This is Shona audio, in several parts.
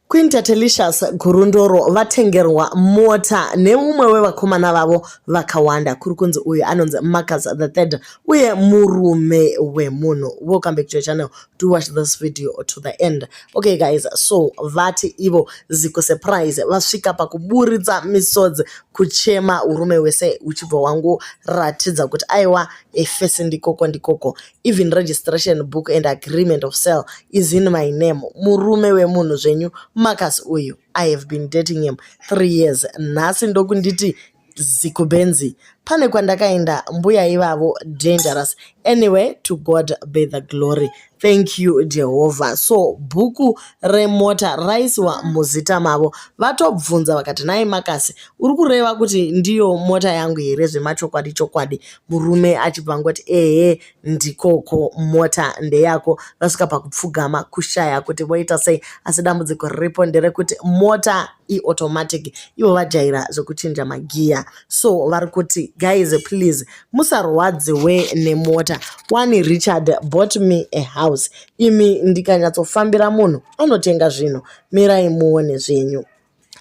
Queen Tatelicious Gurundoro vatengerwa mota neumwe wevakomana vavo vakawanda kuri kunzi uyu anonzi Marcus the third uye murume wemunhu. Welcome back to your channel. Do watch this video to the end. Okay guys, so vati ivo ziko surprise vasvika pakuburitsa misodzi kuchema urume wese uchibva wangu ratidza kuti aiwa efesi ndikoko ndikoko. even registration book and agreement of sale is in my name murume wemunhu zvenyu marcus uyu i have been dating him three years nhasi ndokunditi zikubenzi pane kwandakaenda mbuya ivavo dangerous anyway to god be the glory thank you jehovha so bhuku remota raisiwa muzita mavo vatobvunza vakati nai makasi uri kureva kuti ndiyo mota yangu here zvemachokwadi chokwadi murume achibva angoti ehe ndikoko mota ndeyako vasvika pakupfugama kushaya kuti voita sei asi dambudziko riripo nderekuti mota iautomatic ivo vajaira zvekuchinja magiya so vari kuti guys please musarwadziwe nemota wani richard bought me a house imi ndikanyatsofambira munhu anotenga zvinhu mirai muone zvenyu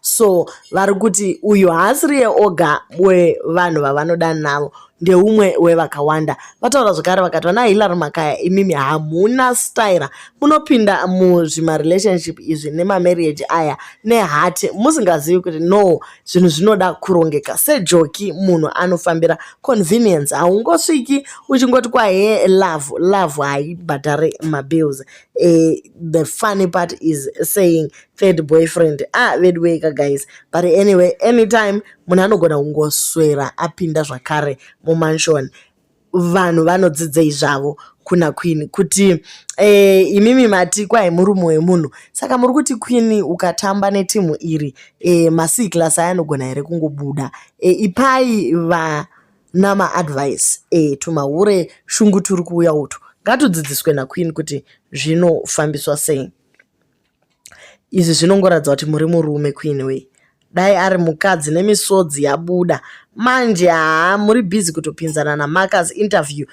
so vari kuti uyu haasiriye oga wevanhu vavanoda navo ndeumwe wevakawanda vataura zvekare vakati vana hilary makaya imimi hamuna styra munopinda muzvimarelationship izvi nemamarriage aya nehati musingazivi kuti no zvinhu zvinoda kurongeka sejoki munhu anofambira convenience haungosviki uchingoti kwahe love love haibhadhare mabills e, the funny part is saying third boyfriend ah veduweka guys but anyway anytime munhu anogona kungoswera apinda zvakare mumansion vanhu vanodzidzei zvavo kuna queen kuti e, imimi mati kwai murume wemunhu saka muri kuti queen ukatamba netimu iri e, eh, masii class aya anogona here kungobuda e, ipai vana maadvice e, tumahure shungu turi kuuya utu ngatudzidziswe naqueen kuti zvinofambiswa sei izvi zvinongoratidza kuti muri murume queen way dai ari mukadzi nemisodzi yabuda manje haa muri busy kutopinzana namarcus interview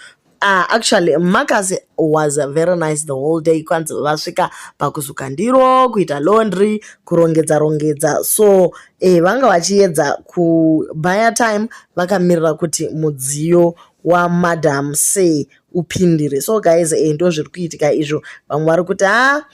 Uh, actually marcus was very nice the whole day kwanzi vasvika pakusuka ndiro kuita laundry kurongedza rongedza so eh, vanga vachiedza kubaya time vakamirira kuti mudziyo wamadam say upindire so guys eh, ndo zviri kuitika izvo vamwe vari kuti a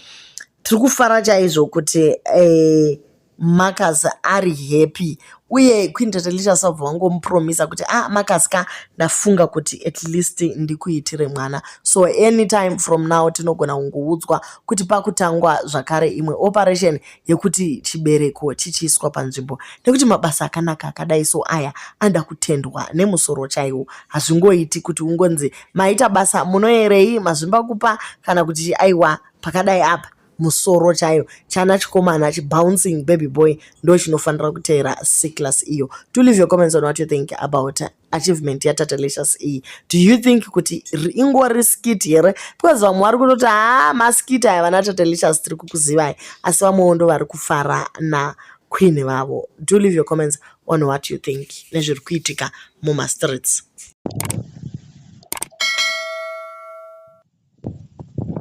tiri kufara chaizvo kuti eh, marcus ari happy uye queen tatelicha sabva vangomupromisa kuti a ah, marcus ka ndafunga kuti at least ndikuitire mwana so anytime from now tinogona kungoudzwa kuti pakutangwa zvakare imwe operation yekuti chibereko chichiiswa panzvimbo nekuti mabasa akanaka akadai so aya anoda kutendwa nemusoro chaiwo hazvingoiti kuti ungonzi maita basa munoerei mazvimba kupa kana kuti aiwa pakadai apa musoro chayo chana chikomana chibouncing baby boy ndo chinofanira kuteera seclass iyo to leave your comments on what you think about achievement yatatalicious iyi do you think kuti ingori skit here because vamwe vari kutoti haa ah, maskit aya vana tatalicious tiri kukuzivai asi vamwewo ndo vari kufara na queen vavo do leave your comments on what you think nezviri kuitika mumastreets